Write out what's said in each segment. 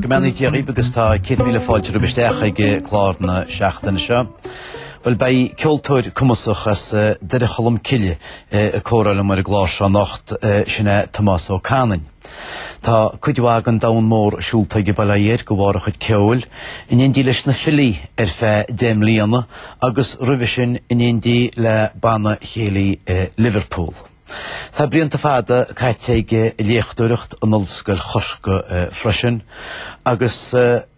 Go mbeannaí Dia dhaoibh agus tá céad míle fáilte romhaibh isteach ag clár na seachtaine seo. Bhuel beidh ceoltóir cumasach as Doire Cholm Cille ag comhrá liom ar an gclár seo anocht, sin é Tomás Ó Canainn. Tá cuid mhaith den domhan mór siúlta aige bail ó Dhia air de bharr a chuid ceoil, in éindí leis Na Filí ar feadh deich mbliana agus roimhe sin in éindí le banna céilí i Liverpool. Tá blianta fada caite aige ag léachtóireacht in Ollscoil Chorcaí freisin agus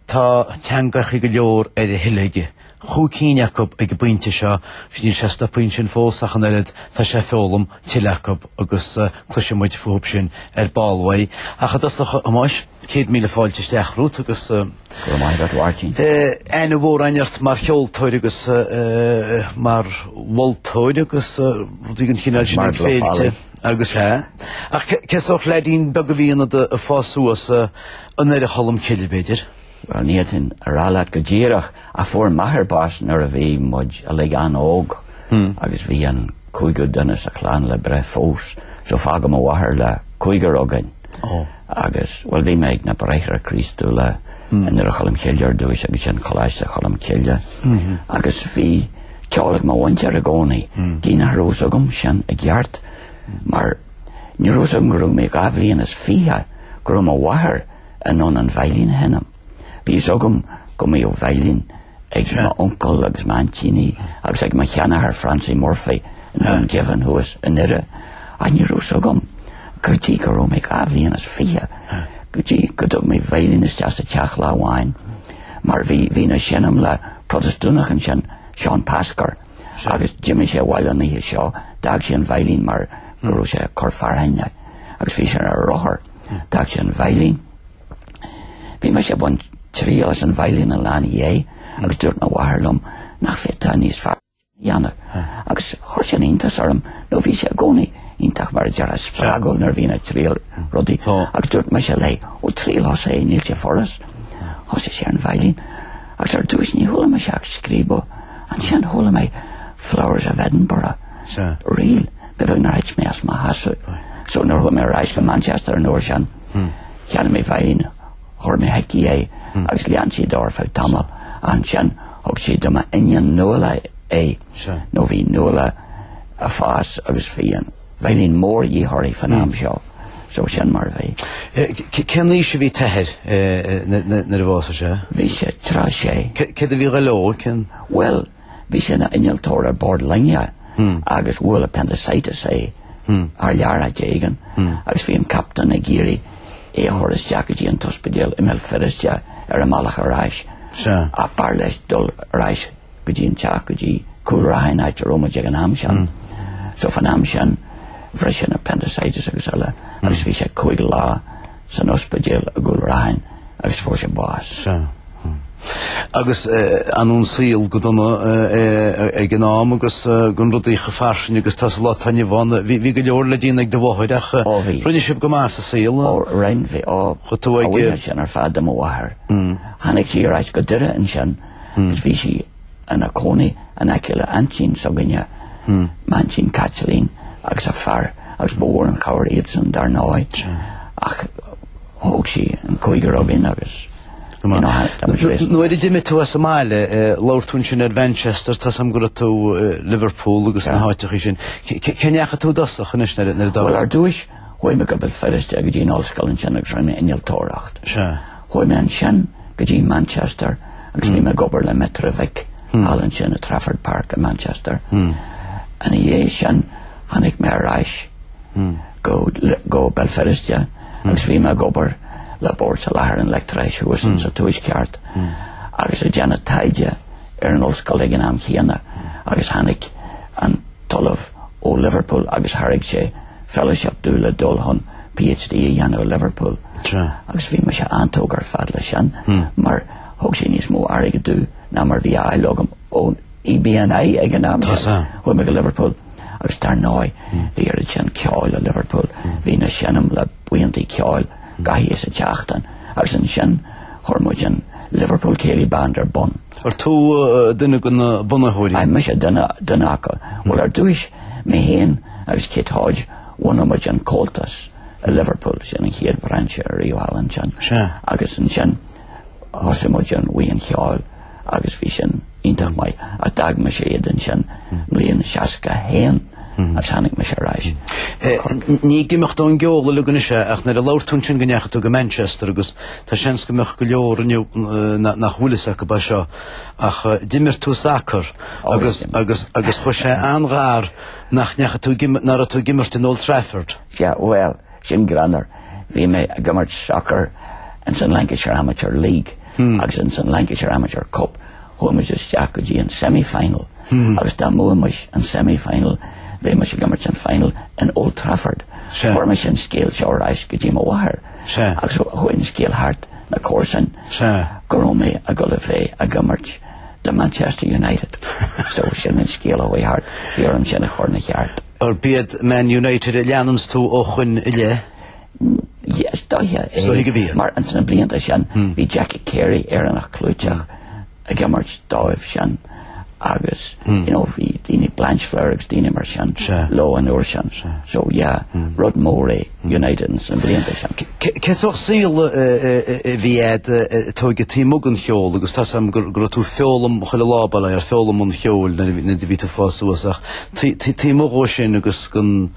Tá teangacha go leor ar a thoil aige cúig cinn acu ag an bpointe seo agus níl sé stoptha ansin fós ach an oiread, tá sé ag foghlaim tuilleadh acu agus cloisfidh muid fúthu sin ar ball uaidh. Ach i dtosach, a Thomáis, céad míle fáilte isteach romhat agus aithne mhór againn ort mar cheoltóir agus mar mholtóir agus rudaí den chineál sin ag féilte agus eile. Ach cén sórt leidín beag a bhí ionat ag fás suas, I nDoire Cholm Cille, b'fhéidir? Bhuel, ní thig liom sin a rá leat go díreach ach fuair m'athair bás nuair a bhí muid uilig an-óg agus bhí an cúigiú duine sa chlann le breith fós so fágadh mo mháthair le cúigear againn agus, bhuel, bhí mé ag na Bráithre Críostúla i nDoire Cholm Cille ar dtús agus ansin Coláiste Cholm Cille agus bhí ceol ag mo mhuintir i gcónaí. Gidh nach raibh fhios agam sin i gceart mar Ní raibh 's agam go raibh mé dhá bhliain is fiche go raibh mo mháthair in ann an veidhlín a sheinm. Bhí fhios agam go mbíodh veidhlín ag m'uncail agus m'aintíní agus ag mo sheanathair Francie Murphy i nDún Geimhin thuas i nDoire ach ní raibh 's agam go dtí go raibh mé dhá bhliain is fiche go dtí go dtug mé veidhlín isteach sa teach lá amháin mar bhí bhínn ag seinm le Protastúnach ansin, Seán Pasker. Agus d'imigh sé abhaile an oíche seo, d'fhág sé an veidhlín mar go raibh sé ag cur fearthainne, agus bhí sé ar a rothar, d'fhág sé an veidhlín. Bhí mise ag baint triail as an veidhlín an lá ina dhiaidh agus dúirt mo mháthair liom nach féadfá níos fearr a dhéanamh, agus chuir sin iontas orm, nó bhí sí i gcónaí iontach mar a déarfá spreagúil nuair a bhínn ag triail rudaí, agus dúirt mise léi, ó triail thusa é níl sé furasta. Thosaigh sí ar an veidhlín. Agus ar dtús ní chuala mise ach scríobadh, ansin chuala mé Flowers of Edinburgh, reel, ba bheag nár thit mé as mo sheasamh. So nuair a chuaigh mé ar ais go Manchester an uair sin, cheannaigh mé veidhlín, chuir mé chuici é agus lean sí de ar feadh tamaill, ansin thug sí do m'iníon Nuala é, nó bhí Nuala ag fás agus bhí an. Veidhlín mór dhíth uirthi fán am seo, so sin mar a bhí. Cén aois a bhí t'athair nuair a bhásaigh sé? Bhí sé tríocha sé. Céard a bhí ag gabháil dó? Bhuel, bhí sé ina innealtóir ar bord loinge agus bhuail appendicitis é thar lear áit éigin agus bhí an captaen ag iarraidh é a chur isteach go dtí an t-ospidéal i mBéal Feirste ar an mbealach ar ais ach b'fhearr leis dul ar ais go dtí an teach go dtí Cúl Raithin áit a raibh muid ag an am sin. So fán am sin bhris an appendicitis agus eile agus bhí sé cúig lá san ospidéal i gCúl Raithin agus fuair sé bás. Sea. Agus ar ndóigh an saol go dona ag an am agus gan rudaí chomh fairsing agus atá sa lá atá inniu ann. Bhí go leor le déanamh ag do mháthair ach rinne sibh go maith sa saol. Ó rinne bhí, ó, a bhuíochas sin ar fad do mo mháthair. Tháinig sí ar ais go Doire ansin. agus bhí sí ina cónaí in aice le aintín s'againne, m'aintín Caitlín agus a fear agus ba mhór an chabhair iadsan dar ndóigh ach thóg sí an cúigear againn agus you know, that was great. Nuair a d'imigh tú as an mbaile labhair tú ansin ar Mhanchester, tá a fhios agam go raibh tú i Liverpool agus na háiteachaí sin. Cé ndeachaigh tú i dtosach anois nuair a d'fhág tú? Well ar dtúis Chuaigh mé go Béal Feirste go dtí an ollscoil ansin agus rinne mé innealtóireacht. Chuaigh mé ansin go dtí Manchester agus bhí mé ag obair le Metrovic, thall ansin i Trafford Park i Manchester. Ina dhiaidh sin tháinig mé ar ais go go Béal Feirste agus bhí mé ag obair le Bord Soláthair an Leictreachais thuas in sa Tuaisceart agus ag déanamh taighde ar an ollscoil ag an am chéanna agus tháinig an tOllamh ó Liverpool agus thairg sé fellowship domh le dul chun PhD a dhéanamh i Liverpool agus bhí mise an-tógtha ar fad leis sin mar thug sé níos mó airgid domh ná mar bhí á fháil agam ón EBNI ag an am sin chuaigh mé go Liverpool agus dar ndóigh bhí oiread sin ceoil i Liverpool bhínn ag seinm le buíontaí ceoil gach oíche sa tseachtain agus ansin chuir muid an Liverpool Céilí Band ar bun. Ar tú duine de na bunaitheoirí? Aye, mise duine acu. Bhuel ar dtúis, mé fhéin agus Kit Hodge, bhunaigh muid an Comhaltas i Liverpool, sin an chéad bhrainse ariamh thall ansin. Sea. Agus ansin, thosaigh muid an Bhuíon Cheoil agus bhí sin iontach maith. Ach d'fhág mise iad ansin i mbliain seasca haon. Mar tháinig mise ar ais. Ní ag imeacht ón gceol uilig anois é ach nuair a labhair tú ansin go ndeachaigh tú go Manchester agus tá seans go mbeadh go leor inniu nach bhfuil fhios acu faoi seo ach d'imir tú sacar agus agus agus chuaigh sé an-ghar nach ndeachaigh tú ag nach raibh tú ag imirt in Old Trafford. Sea, bhuel. Sin greannmhar. Bhí mé ag imirt sacar ins an Lancashire Amateur League agus ins an Lancashire Amateur Cup chuaigh muid isteach go dtí an semi final agus dá mbuaimis an semi final bheimis ag imirt an final in Old Trafford. Chuireamar an scéal seo ar ais go dtí mo mháthair agus chuaigh an scéal thart na comharsain go raibh mé ag dul le bheith ag imirt do Manchester United. So sin an scéal a chuaigh thart. Bhí orm sin a chur 'na cheart. Arb iad Man United a leananns tú ó shoin i leith? Yes, stoiche é. Stoiche go bhfiain. Mar ins na blianta sin bhí Jackie Carey, Éireannach clúiteach, ag imirt dóibh sin agus you know bhí daoine, Blanchflower agus daoine mar sin, leo an uair sin. So yeah, rud mór é. United sna blianta sin. Cén sórt saoil a bhí agat a Tony taobh amuigh den cheol agus tá a fhios agam go raibh tú ag foghlaim chuile lá baile ag foghlaim an cheoil nuair a bhí tú ag fás suas ach taobh amuigh ó sin agus gan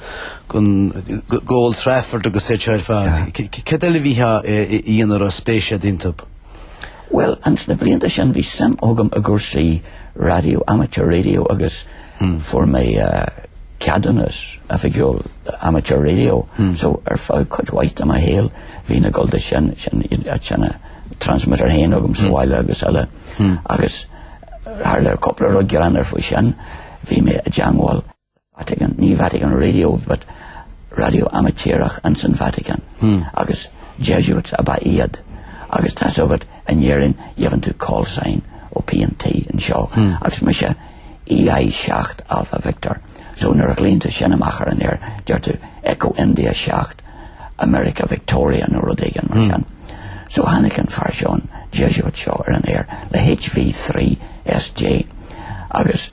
dul go Old Trafford agus é seo ar fad, céard eile a bhí tú a dhéanamh a raibh spéis agat iontu? Bhuel, sna blianta sin bhí suim agam i gcúrsaí raidió, amateur radio agus. Fuair mé ceadúnas oifigiúil d'amateur radio so ar feadh cuid mhaith de mo shaol bhí na, go leor de sin, na transmitter féin agam sa bhaile agus eile agus tharla cúpla rud greannmhar faoi sin. Bhí mé i dteangmháil le Vatican, ní Vatican Radio but radio amaitéarach ins an Vatican agus Jesuits ab ea iad agus tá's agat in Éirinn gheibheann tú call sign ó P&T anseo agus mise EI 7, Alpha Victor. So nuair a ghlaonn tú sin amach ar an aer deir tú Echo India 7, America Victoria nó rud éigin mar sin. So tháinig an fear seo, an Jesuit seo, ar an aer le HV 3, SJ, agus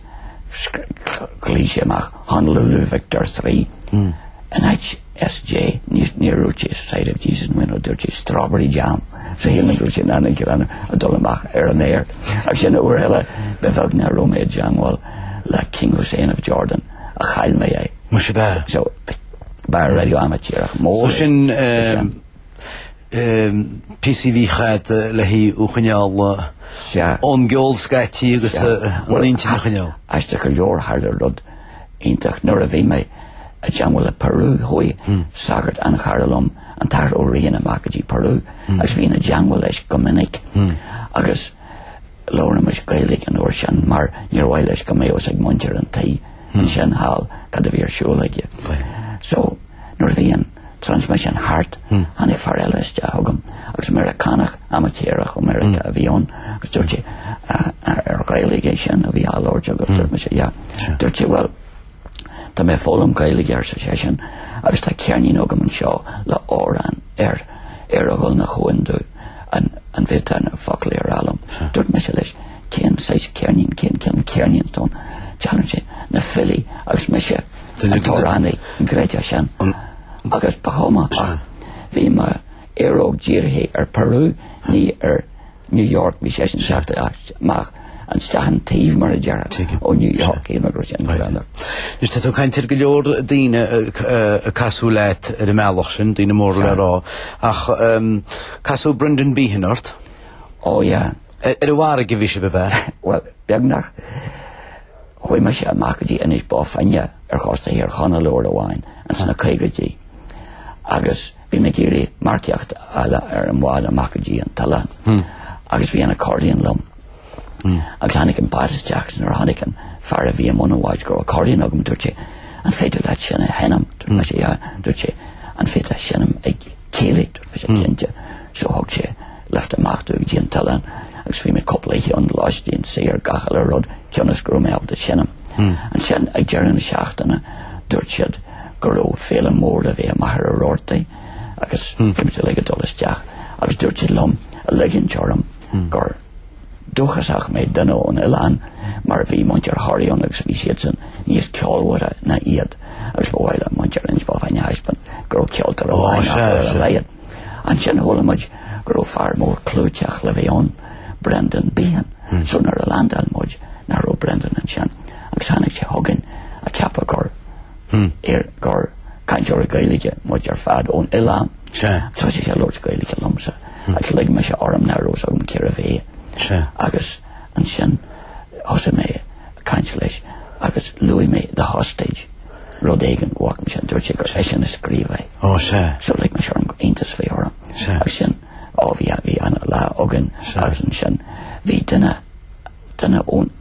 ghlaoigh sé amach Honolulu Victor 3, in áit, SJ, Níor níor dúirt sé Society of Jesus mind you, dúirt sé Strawberry Jam. So chuala mé an gáire ag dul amach ar an aer. Agus ansin uair eile ba bheag nár raibh mé i dteangmháil le King Hussein of Jordan ach chaill mé é. Muise. So ba raidió amaitéarach mór é. So sin píosaí a bhí agat le haghaidh thú a choinneáil ón gceol scaití agus an intinn a choinneáil. Aisteach go leor tharla rud. iontach nuair a bhí mé i dteangmháil le Peru, chuaigh sagart an-chara liom, an tAthair Ó Riain, amach go dtí Peru agus bhínn i dteangmháil leis go minic agus labhraímis Gaeilge an uair sin mar níor mhaith leis go mbeadh fhios ag muintir an tí ansin thall cad a bhí ar siúl aige. So, nuair a bhí an. transmission thart, tháinig fear eile isteach chugam agus Meiriceánach, amaitéarach ó Mheiriceá a bhí ann agus dúirt sé, ah, ar Ghaeilge é sin a bhí á labhairt agaibh? Dúirt mise, yeah. Dúirt sé, bhuel, tá mé ag foghlaim Gaeilge, arsa seisean, agus tá ceirnín agam anseo le amhrán air, ar a dhul 'na chuain domh, an bhféadfá na foclaí a rá liom. Dúirt mise leis, Cén saghas ceirnín, cén ceann ceirnín don teann sin? Na filí agus mise an t-amhránaí, an gcreidfeá sin. Agus ba chuma ach bhí mo aeróg dírithe ar Peru, ní ar New York, bhí seisean ag teacht amach nó isteach ón taobh, mar a déarfá, ó New York, yeah mar go raibh sé an-ghreannmhar. Anois tá tú ag caint ar go leor daoine ag casadh leat ar an mbealach sin, daoine móra le rá, ach casadh Brendan Behan ort? Ó yeah. Ar an bhfarraige a bhí sibh, ab ea? Bhuel, beagnach. Chuaigh mise amach go dtí Inis Bó Finne ar chósta Thír Chonaill uair amháin ins na caogaidí agus bhí mé ag iarraidh marcaíocht a fháil ar an bhád amach go dtí an t-oileán agus bhí an accordion liom agus tháinig an bád isteach agus nuair a chonaic an fear a bhí i mbun an bháid go raibh accordion agam dúirt sé An féidir leat sin a sheinm? Dúirt mise yeah. Dúirt sé An féidir leat seinm ag céilí? Dúirt mise Cinnte. So thug sé lift amach domh go dtí an t-oileán agus bhí mé cúpla oíche ann lóistín saor, gach uile rud cionn is go raibh mé ábalta a seinm. Ansin ag deireadh na seachtaine dúirt siad go raibh féile mór le bheith i Machaire Rabhartaigh agus bhí muid uilig ag dul isteach agus dúirt siad liom a ligint orm gur dúchasach mé duine ón oileán mar bhí muintir Thoraí ann agus bhí siadsan níos ceolmhaire ná iad agus ba mhaith le muintir Inis Bó Finne a thaispeáint go raibh ceoltóir amháin acu ar a laghad. Ansin chuala muid go raibh fear mór clúiteach le bheith ann, Brendan Behan, so nuair a landáil muid nach raibh Brendan ansin agus tháinig sé chugainn ag ceapadh gur ar gur cainteoirí Gaeilge muid ar fad ón oileán. Thosaigh sé ag labhairt Gaeilge liomsa agus lig mise orm nach raibh fhios agam cérbh é agus ansin thosaigh mé ag caint leis agus luaigh mé The Hostage. rud éigin go bhfaca mise, dúirt sé gur eisean a scríobh é. Ó, sea. So lig mise orm gur iontas a bhí orm. Sea. Agus sin, ó, bhí a, bhí an-lá againn. Sea. Agus ansin, bhí duine, duine ón,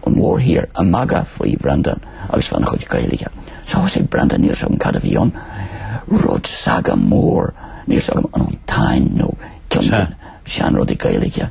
ón mhórthír ag magadh faoi Bhrendan agus fána chuid Gaeilge. So thosaigh Brendan, níl fhios agam cad a bhí ann, rud saga mór, níl fhios agam, an ón Táin nó ceann de na seanrudaí Gaeilge.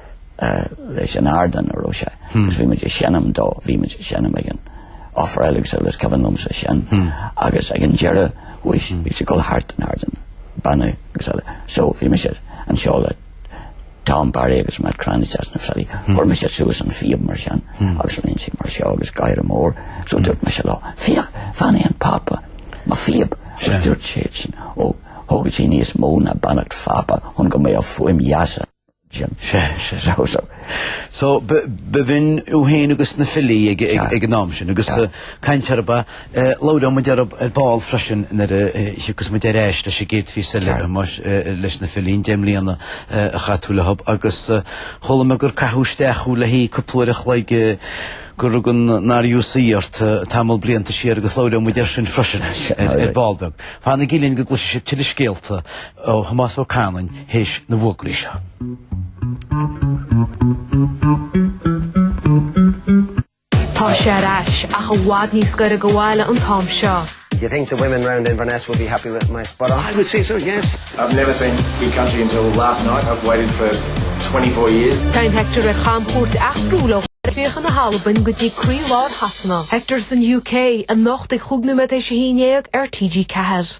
leis an ardán a raibh sé agus bhí muid ag seinm dó, bhí muid ag seinm ag an Ofráil agus eile is cuimhin liomsa sin agus ag an deireadh bhí sé ag dul thart an ardán, ag beannú agus eile so bhí mise anseo le Tom Barry agus Matt Cranitch as Na Filí, chuir mise suas an phíob mar sin agus aoibh mar seo agus gáire mór so dúirt mise leo féach bheannaigh an Pápa mo phíob agus dúirt siad sin ó thógfadh sí níos mó ná beannacht Phápa chun go mbeadh fuaim dheasa. aici. Sea, sea, sea. So, bhínn tú fhéin agus na filí ag an am sin agus caint ar ba, labhróidh muid ar ball freisin nuair a thiocfas muid ar ais leis an gcéad phíosa eile a Thomáis leis na filí, deich mbliana a chaith tú leo agus chuala mé gur caitheadh isteach thú le haghaidh cúpla uair a chloig gur rug an RUC ort tamall blianta siar agus labhróidh muid ar sin freisin ar ball beag. Fanaigí linn go gcloisfidh sibh tuilleadh scéalta. ó Thomás Ó Canainn théis na bhfógraí seo. Tá sé ar ais, ach i bhfad níos gaire do bhaile an t-am seo. You think the women round Inverness will be happy with my spot on? I would say so, yes. I've never seen Big Country until last night, I've waited for twenty four years. Téann Hector ar chamchuairt eachtrúil ó chríocha na hAlban go dtí croílár Shasana. Hector san UK, anocht ag cúig nóiméad théis a haon déag ar TG4.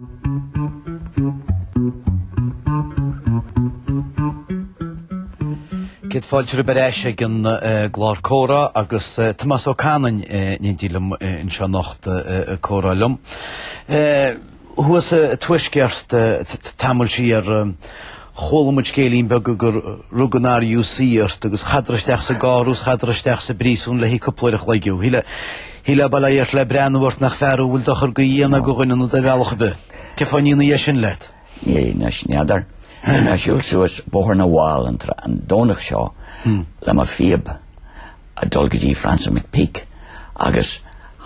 Céad fáilte romhaibh ar ais ag an gclár comhrá agus Tomás Ó Canainn, i ndáil liom anseo anocht ag comhrá liom. Thuas sa Tuaisceart, tamall siar Chuala muid scéilín beag gur rug an RUC ort agus chaitheadar isteach sa gcarr agus chaitheadar isteach sa bpríosún le haghaidh cúpla uair a chloig. Shílfeá bail ó Dhia ort le breathnú ort nach fear thú a bhfuil dochar go dhéanamh do dhuine ná do bheithíoch ar bith. Cén fáth a ndearna siad é sin leat? N'fheadar, n'fheadar. Mé ag siúl suas Bóthar na bhFál an Domhnach seo le mo phíob. ag dul go dtí Francie McPeake agus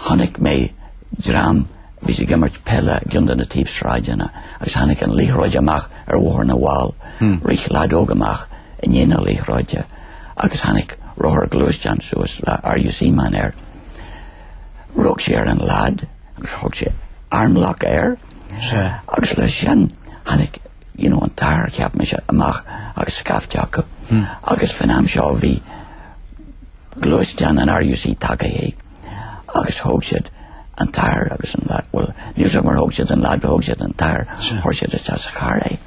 chonaic mé dream a bhí ag imirt peile i gcionn de na taobhshráideanna agus tháinig an liathróid amach ar Bhóthar na bhFál. Rith leaid óg amach i ndiaidh na liathróide agus tháinig rothar gluaisteán suas le RUC man air. Rug sé ar an leaid agus chuir sé armlock air agus leis sin tháinig you know, an t-athair, cheap mise, amach agus scaifte acu agus faoin am seo bhí gluaisteán an RUC tagaithe agus thóg siad an t-athair agus an leaid, bhuel, níl a fhios agam ar thóg siad an leaid nó thóg siad an t-athair, chuir siad isteach sa charr é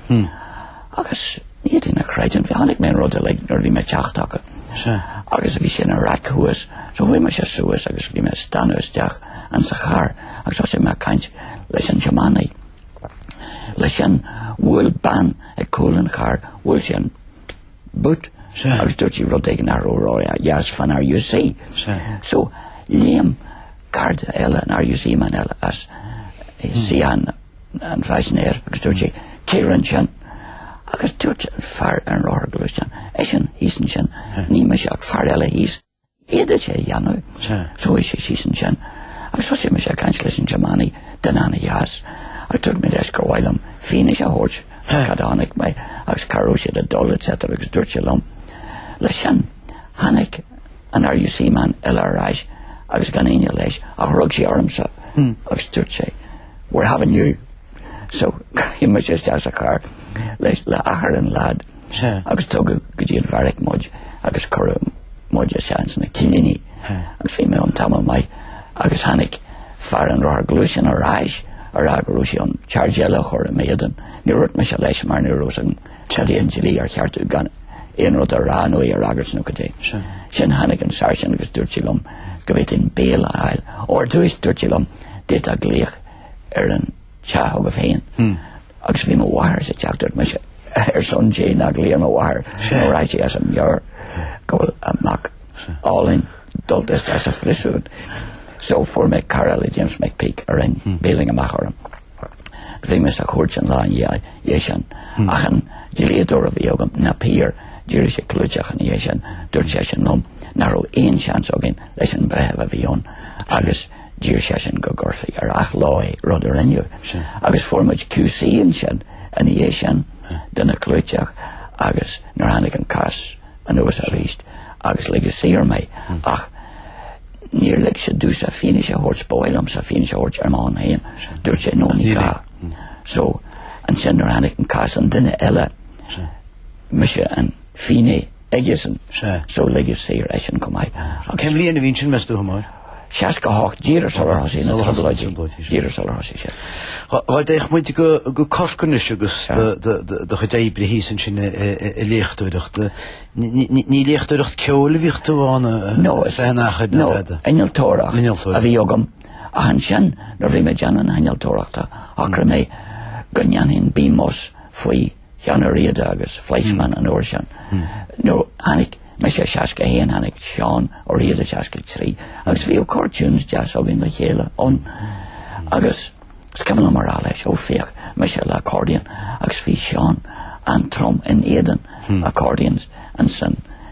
agus ní fhéadfainn a chreidiúint, bhí, chonaic mé an rud uilig nuair a bhí mé ag teacht chucu agus bhí sé ina raic thuas, so chuaigh mise suas agus bhí mé ag stánadh isteach ann sa charr agus thosaigh mé ag caint leis an tiománaí. Leis sin, bhuail bean ag cúl an chairr, bhuail sí an boot agus dúirt sí rud éigin nach raibh ródheas fán RUC. So, léim Garda eile an RUC man eile as suíochán an phaisinéir agus dúirt sé, Cé rinn sin? Agus dúirt an fear ar an rothar gluaisteán, Eisean thíos ansin, ní mise ach fear eile thíos. fhéadfadh sé a dhéanamh. Chuaigh sé síos ansin agus thosaigh mise ag caint leis an tiománaí duine ana-dheas agus dúirt mé leis gur mhaith liom fianaise a thabhairt ar cad a chonaic mé agus cá raibh siad ag dul etc. Agus dúirt sé liom, leis sin, tháinig an RUC man eile ar ais agus gan aoinne leis ach rug sé ormsa agus dúirt sé, we're having you. So, chuaigh mise isteach sa charr le athair an leaid. agus tugadh go dtí an bheairic muid agus cuireadh muid isteach ins na cillíní agus bhí mé ann tamall maith agus tháinig fear an rothar gluaisteán ar ais a rá go raibh sé chun charge eile a chur i m'éadan. Níor dhúirt mise leis mar ní raibh a fhios agam cad é an dlí ar cheart dom gan aon rud a rá nó é a fhreagairt nó cad é. Ansin tháinig an Sáirsint agus dúirt sé liom go bhféadfainn bail a fháil. Ar dtús dúirt sé liom d'fhéadfá glaoch ar an teach agam féin agus bhí mo mháthair sa teach dúirt mise ar son Dé ná glaoigh ar mo mháthair nó raghaidh sí as a meabhair go bhfuil a mac álainn dulta isteach sa phríosún so fuair mé cara eile James McPeake a rinn bailing amach orm agus bhí mé sa chúirt an lá ina dhiaidh sin ach an dlíodóir a bhí agam Napier d'éirigh sé clúiteach ina dhiaidh sin dúirt seisean liom nach raibh aon seans againn leis an breitheamh a bhí ann agus D'iarr seisean go gcuirfí ar athló é, rud a rinneadh. Agus fuair muid QC ansin ina dhiaidh sin, duine clúiteach, agus nuair a tháinig an cás anuas arís agus ligeadh saor mé. Hmm. Ach níor lig sé domhsa fianaise a thabhairt ba mhaith liomsa fianaise a thabhairt ar mo shon féin, dúirt sé no ní gá. Hmm. So ansin nuair a tháinig an cás an duine eile, mise an finné aigesean, so ligeadh saor eisean chomh maith. Agus. Cén bhliain a bhí ansin meas tú a Thomáis? 68 díreach sular thosaigh na trioblóidí. Díreach sular thosaigh sé. Dá dtéadh muid go go Corcaigh anois agus do chuid oibre thíos ansin i léachtóireacht. Ní léachtóireacht ceoil a bhíodh tú ann nó is é an achair nó innealtóireacht a bhí agam ach ansin nuair bhí mé ag déanamh na hinnealtóireachta shocraigh mé go ndéanfainn BMus faoi Sheán Ó Riada agus Fleischmann an uair sin, nó tháinig mise i 61, tháinig Seán Ó Riada i 63, agus bhíodh corr-tunes deas againn le chéile ann, agus is cuimhin liom a rá leis, ó féach, mise le accordion, agus bhí Seán an-trom in éadan accordions ansin.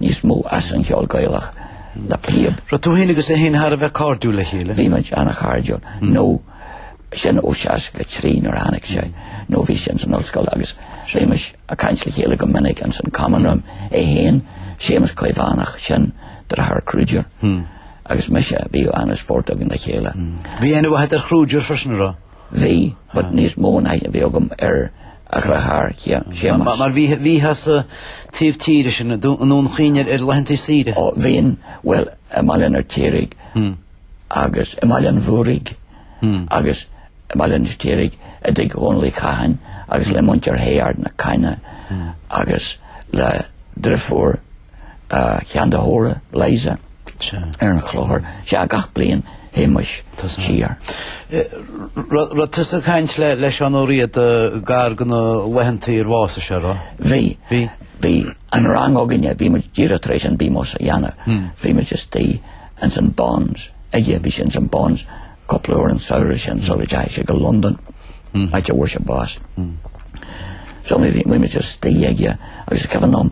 níos mó as an cheol Gaelach le píob. Raibh tú féin agus é féin thar a bheith cairdiúil le chéile? Bhí muid an-chairdiúil, nó sin ó 63 nuair a tháinig sé, nó bhí sé insan ollscoil agus bhímis ag caint le chéile go minic insan Common Room, é féin, Séamus Caomhánach, sin deartháir Kruger, agus mise, bhí an-spórt againn le chéile. Bhí aithne agat ar Kruger freisin, an raibh? Bhí, but níos mó ná a bhí agam ar a dheartháir, Séamas. Mar bhíteá sa taobh tíre sin, i nDún Chaoin ar laethantaí saoire. Ó, bhínn, bhuel, i mBaile an Fheirtéaraigh agus i mBaile an Mhúraigh agus i mBaile an Fheirtéaraigh i dtigh Dhónaill Uí Chatháin agus le muintir Shé Ard na Caithne agus le deirfiúr Sheáin de hÓra, Liza, ar an Chloichear sea gach bliain, théimis siar. Raibh tusa ag caint le Seán Ó Riada gar do na laethantaí ar bhásaigh sé, an raibh? Bhí. Bhí. Bhí an rang againne, bhí muid díreach tar éis an BMus a dhéanamh, bhí muid istigh ins an Bons aige, bhí sé ins an Bons Cúpla uair an samhradh sin sula dteachaigh sé go Londain, áit a bhfuair sé bás. So bhí muid istigh aige agus is cuimhin liom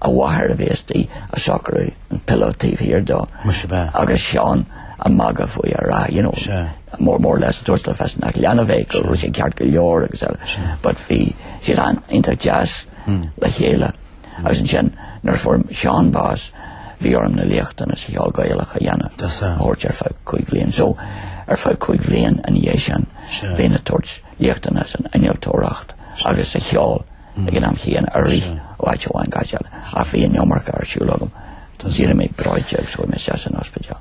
a mháthair a bheith istigh ag socrú an pillow taobh thiar dó agus Seán ag magadh faoi ag rá, you know, more or less, tabhairt le fios nach leanbh é, go raibh sé ceart go leor agus eile, but bhí siad an-iontach deas le chéile. Agus ansin, nuair a fuair Seán bás, bhí orm na léachtanna sa cheol Gaelach a dhéanamh, a thabhairt ar feadh cúig bhliain. So, ar feadh cúig bhliain ina dhiaidh sin, bhínn ag tabhairt léachtanna san innealtóireacht agus sa cheol ag an am chéanna ag rith ó áit amháin go háit eile. Ach bhí an iomarca ar siúl agam. D'éirigh mé breoite agus chuaigh mé isteach san ospidéal.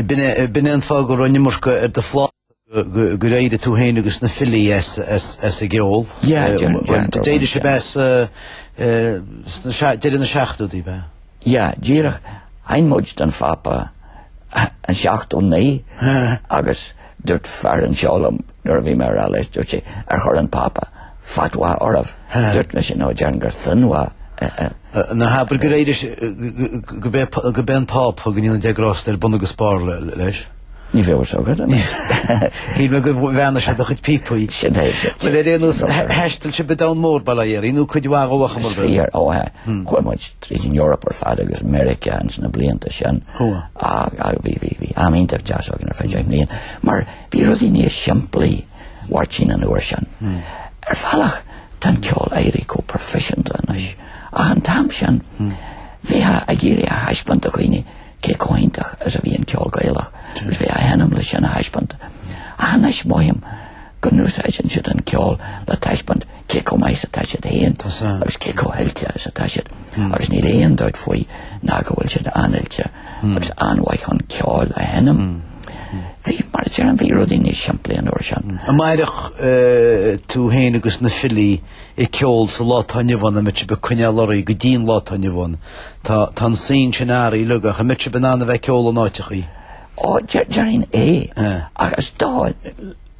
B'in é an fáth go raibh an iomarca ar do phláta gur éirigh tú féin agus Na Filí as an gceol. Yeah, déarfainn, déarfainn. D'éirigh sibh as ag deireadh na seachtóidí, ab ea? Yeah, díreach. Sheinn muid don Phápa in 79 agus dúirt fear anseo liom nuair a bhí mé á rá leis, dúirt sé, ar chuir an Pápa fatwa oraibh? Dúirt mise, no, déarfainn gur thinwa é. Ná habair gur éirigh sibh, gurb é an Pápa go ndéana Dia grásta air, bun agus barr leis? Ní bheadh a fhios agat anois. Shíl mé gur bheannaigh sé do chuid píopaí. Sin é, sin. Bhuel, ar aon nós, thaistil sibh an domhan mór, bail ó Dhia oraibh, nó cuid mhaith dhó ar chuma ar bith. Is fíor, ó ea. Chuaigh muid tríd an Eoraip ar fad agus Meiriceá ins na blianta sin. Ach bhí, bhí, bhí am iontach deas againn ar feadh deich mbliain. Mar bhí rudaí níos simplí, Mháirtín, an uair sin. Ar bhealach, tá an ceol ag éirí chomh proifisiúnta anois. Ach an t-am sin, bhíothas ag iarraidh a thaispeáint do dhaoine. Cé chomh hiontach is a bhí an ceol Gaelach is bhí á sheinm le sin a thaispeáint. Ach anois mothaím go n-úsáideann siad an ceol le taispeáint cé chomh maith is atá siad féin agus cé chomh hoilte is atá siad agus níl aon dabht faoi ná go bhfuil siad an-oilte agus an-mhaith chun ceoil a sheinm. Bhí, mar a deirim, bhí rudaí níos simplí an uair sin. An mairfeadh tú féin agus Na Filí ag ceol sa lá atá inniu ann, an mbeadh sibh ag coinneáil oraibh go dtí an lá atá inniu ann? Tá tá an scene sin athraithe uilig ach an mbeadh sibh in ann a bheith ag ceol in áiteachaí? Ó, déarfainn é. Eh. Ach is dóigh,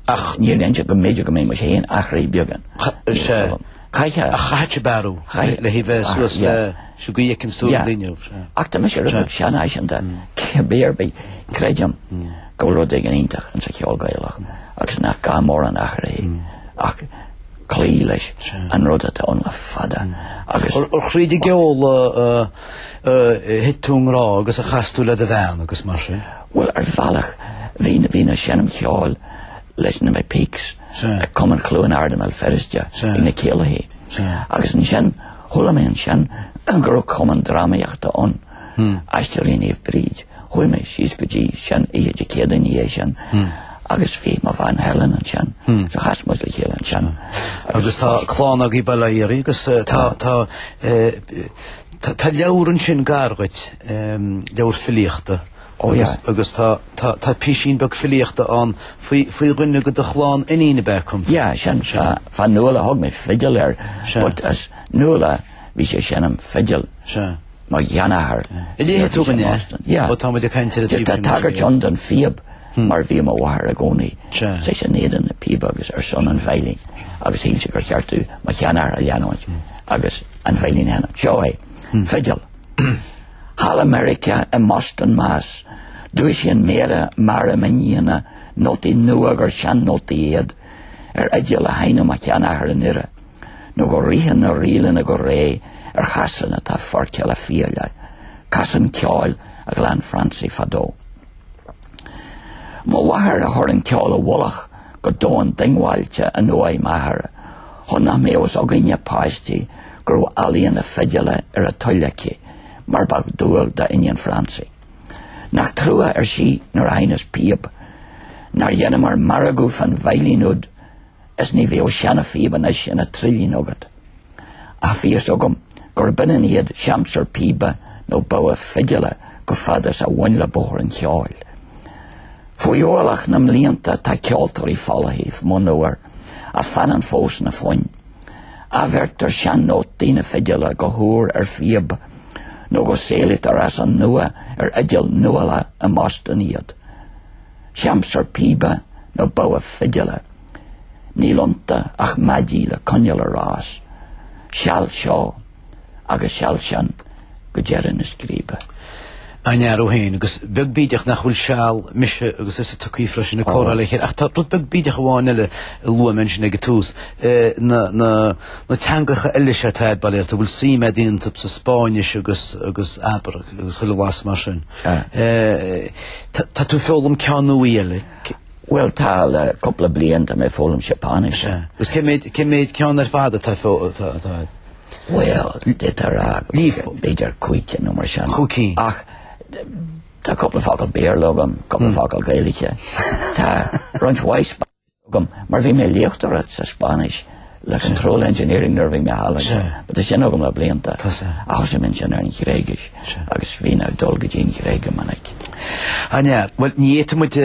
ach níor lean sé go mb'fhéidir go mbeadh muid féin athraithe beagán Cha- níos sé- fulam. Caitheadh. Ach chaithfeadh sibh athrú Chaith- le haghaidh a bheith Ah, suas yeah. leis sin go bhfeiceann tú Yeah. daoine uaibh. eh. Ach tá mise rud seanfhaiseanta, cibé ar bith, creidim go bhfuil rud éigin iontach sa cheol Gaelach agus nach gá mórán athraithe ach cloí leis an rud atá ann le fada agus. Ar thríd an gceol a thit tú i ngrá agus a chas tú le do bhean agus mar sin? Bhuel, ar bhealach bhínn ag seinm cheoil leis na McPeakes ag Cumann Chluain Ard i mBéal Feirste ag na céilithe agus ansin chuala mé ansin go raibh cumann drámaíochta ann. Aisteoirí Naomh Bríd, Chuaigh mé síos go dtí sin oíche Dé Céadaoin ina dhiaidh sin agus bhí mo bhean Helen ansin so chas muid le chéile ansin. Agus tá clann agaibh bail ó Dhia oraibh agus tá tá tá tá leabhar ansin gar dhuit, leabhar filíochta Ó yeah. agus tá tá tá písín beag filíochta ann faoi faoi dhuine de do chlann iníon ab ea acu. Yeah, sin fá fá Nuala thug mé fidil air Sea. but as Nuala bhí sí ag seinm fidil. Sea. mo sheanathair An léifidh tú dúinn é ó tá muid ag caint ar an taobh sin Tá tagairt ann don phíob mar bhí mo mháthair i gcónaí saghas in éadan na píobe agus ar son an veidhlín agus shíl sí gur cheart dúinn mo sheanathair a leanúint agus an veidhlín a sheinm. Seo é. Fidil. Thall i Meiriceá, i mBoston, Mass. Dúisíonn méara meara m'iníona nótaí nua gur sean-nótaí iad ar fhidil a sheinneadh mo sheanathair i nDoire. nó go ritheann na ríleanna go réidh ar chasán atá foirgthe le fiaile, casán ceoil a ghlan Francie fadó. Mo mháthair a chuir an ceol i bhfolach go domhain diongbháilte in uaigh m'athar, chun nach mbeadh fhios againne páistí go raibh ealaíon na fidile ar a toil aici, mar ba dhual d'iníon Francie. Nach trua, ar sí, nuair a sheinneas píob, nár dheineamar margadh fán veidhlín úd, is ní bheidh an seana-phíobán aosta ina thrillín agat, a fhios agam gurb ionann iad seamsur píbe nó bogha fidile chomh fada is a bhain le bóthar an cheoil. Faoi ualach na mblianta tá ceoltóirí folaithe, monuar, ach fanann fós na foinn. Athbheirtear sean-nótaí na fidile go húr ar phíob, nó go saolaítear as an nua ar fhidil nuála i mBoston iad. Seamsur píbe nó bogha fidile. Níl ionta ach maidí leaca an oileáin ar fás. Seal seo agus seal san go deireadh na scríbe. Dáiríre féin, agus beag bídeach nach bhfuil seal mise agus thusa tugtha freisin ag comhrá le chéile, ach tá rud beag bídeach amháin eile a luaigh mé ansin ag an tús, na teangacha eile seo atá tú ag bailiú, a bhfuil suim agat iontu, sa Spáinnis agus abair agus chuile bhlas mar sin. Tá tú ag foghlaim ceann nua eile? Bhuel, tá le cúpla bliain tá mé ag foghlaim Seapáinis. Agus cén méid, cén méid ceann ar fad atá tú ag foghlaim? Bhuel, difear agam. Difear? B'fhéidir cúig cinn nó mar sin. Cúig cinn. Ach tá cúpla focal Béarla agam, cúpla focal Gaeilge. Tá roinnt mhaith. agam mar bhí mé ag léachtóireacht sa Spáinnis le Control Engineering nuair a bhí mé thall ansin. But tá sin agam le blianta. Thosaigh mé ansin ar an Ghréigis agus bhínn ag dul go dtí an Ghréig go minic. An ea? Bhuel, ní fhéadfaidh muid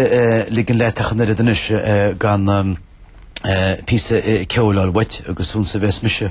ligean leat ach an oiread anois gan píosa ceoil uait agus fonn a bheas mise.